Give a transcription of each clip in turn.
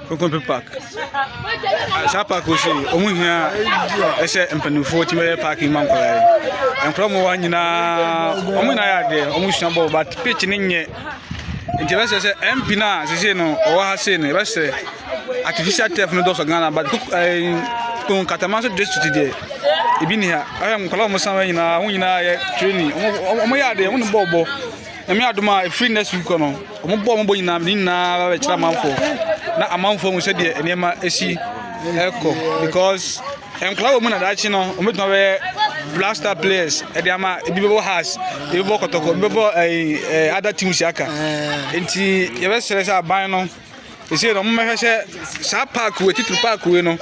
kokompe park ah, saa park o si ɔmo hia ɛsɛ mpanimfoɔ ti bɛyɛ park ma nkɔlaa yi nkɔlaa mu wa nyinaa ɔmo nyinaa yɛ adeɛ ɔmo sua bɔɔl but pitch ne nyɛ nti ɛbɛsɛ sɛ mp no a sese no ɔwɔ ha sei no ɛbɛsɛ artificial turf no dɔsɔ ghana but kɔn katama so district deɛ ebi ni ha ɛhɛ nkɔlaa ɔmo san nyinaa ɔmo nyinaa yɛ training ɔmo yɛ adeɛ ɔmo ne bɔɔl bɔ. Nyame adom a ɛfiri next week no wɔn bɔ wɔn bɔ nyinaa ne nyinaa bɛkyerɛ amanfoɔ na amanfoɔ mu sɛdeɛ nneɛma ɛsi ɛkɔ because nkwadaa wɔ mu na daakye no wɔn bɛtuma bɛyɛ blaster players ɛde ama ebi bɛbɔ house ebi bɛbɔ kɔtɔkɔ ebi bɛbɔ ɛɛ ɛɛ other teams aka nti yɛbɛsrɛ sɛ aban no. Ɛsei no, wɔn bɛhwɛ sɛ saa park wei titiri park wei no,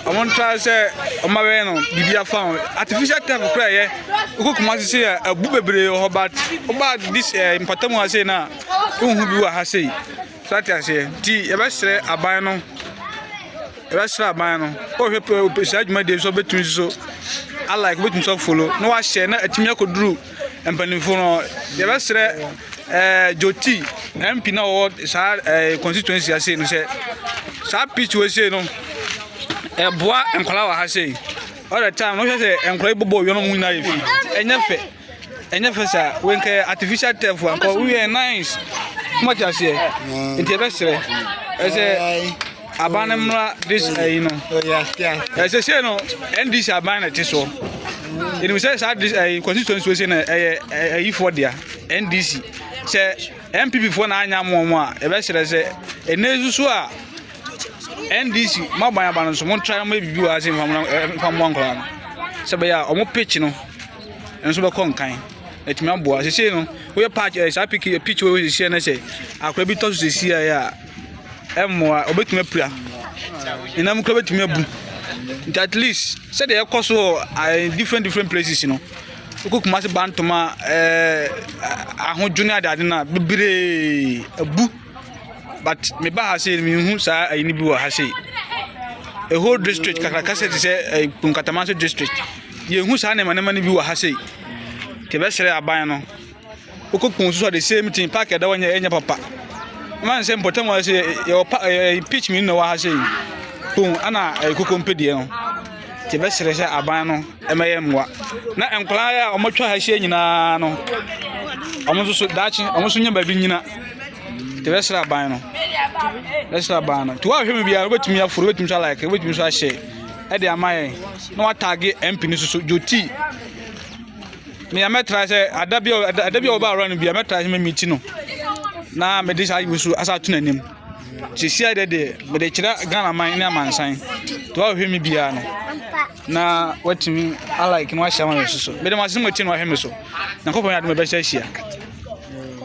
wɔn ntra sɛ wɔn abɛyɛ no biribi afa ho. Artificial turf kura yɛ wokɔ kuma ase sei a abu bebree wɔ hɔ but woba this ɛɛ eh, mpatamu ha sei na wohu bi wɔ ha sei. So ate aseɛ nti yɛbɛsrɛ aban no yɛbɛsrɛ aban no wɔhwɛ saa dwumadie nso bɛtumi nso alike bɛtumi nso afolo na wahyɛ na atumi akɔduru mpanimfoɔ no yɛbɛsrɛ eh, joti mp na ɔwɔ saa eh, constituency ase no sɛ saa pitch wɔ sei no ɛboa eh, nkwadaa wɔ ha sei all the time no hwɛ sɛ nkwadaa yi bɔbɔ owia no mu nyinaa yɛ fi ɛnyɛ fɛ ɛnyɛ fɛ saa wenkɛ artificial turf ankɔ woyɛ nice mɔte aseɛ nti yɛbɛsrɛ ɛsɛ Aban no mmra this ayi no. Ɛsɛ sɛ no NDC aban na ɛte soɔ. Ɛnim sɛ saa this ayi constituency wɔ sɛ no ɛyɛ ayifoɔ dea NDC. Sɛ NPP foɔ na anya mo wɔn a ɛbɛsrɛ sɛ ɛnɛ nsusu a NDC mo aban aban no so mo ntra mo ebibi wɔ ase nfamoa nkɔla no. Sɛ bɛyɛ a wɔn pitch no nso bɛkɔ nkan. Ɛtumi aboa. Sɛ sɛ no woyɛ patch ɛyɛ saa pitch pitch wɔ sɛ sɛ no sɛ akora bi tɔ so sɛ si a mmoa, wɔbɛtumi apira, ne nam kora bɛtumi abu. Nti at least sɛdeɛ ɛkɔ so wɔ eh, different different places no, wokɔ kuma se bantoma eh, ahodwo ne adeade no a bebree abu. But meba ha sei mehu saa ayini bi wɔ ha sei. A whole district kakraka sɛ te sɛ eh, Nkatamanso district. Yɛhu saa nneɛma nneɛma no bi wɔ ha sei. Nti ɛbɛsrɛ aban no Wokɔku nso so the same thing park ɛda hɔ nyɛ ɛnyɛ papa man sɛ mpɔtam hɔ sɛ yɛwɔ pa ɛyɛ pitch mmienu na ɛwɔ ha sɛ boom ana ɛyɛ koko mpedeɛ no te bɛsrɛ sɛ aban no ɛmɛyɛ mmoa na nkwadaa yɛ a wɔatwa ha ahyia nyinaa no wɔn nso so daakye wɔn nso nyɛ baabi nyina te bɛsrɛ aban no bɛsrɛ aban no te wɔahwɛ mu biara wobɛtumi aforo wobɛtumi so alike wobɛtumi so ahyɛ ɛde ama yɛn na wɔataage mp no so so dwoti Nea mɛtra sɛ ada bi a ada bi a ɔba awura no bi a mɛtra sɛ mɛmi ti no na mede saa ayi so asa ato n'anim sisi ayɛ deɛ mede kyerɛ ghana man ne amansan to ahwɛ mi biara no na watumi alike na wahyɛ ama me so so mede mo asɛm ɔtie na wahwɛ me so nyankopɔn yɛ ade mɛbɛhyɛ ahyia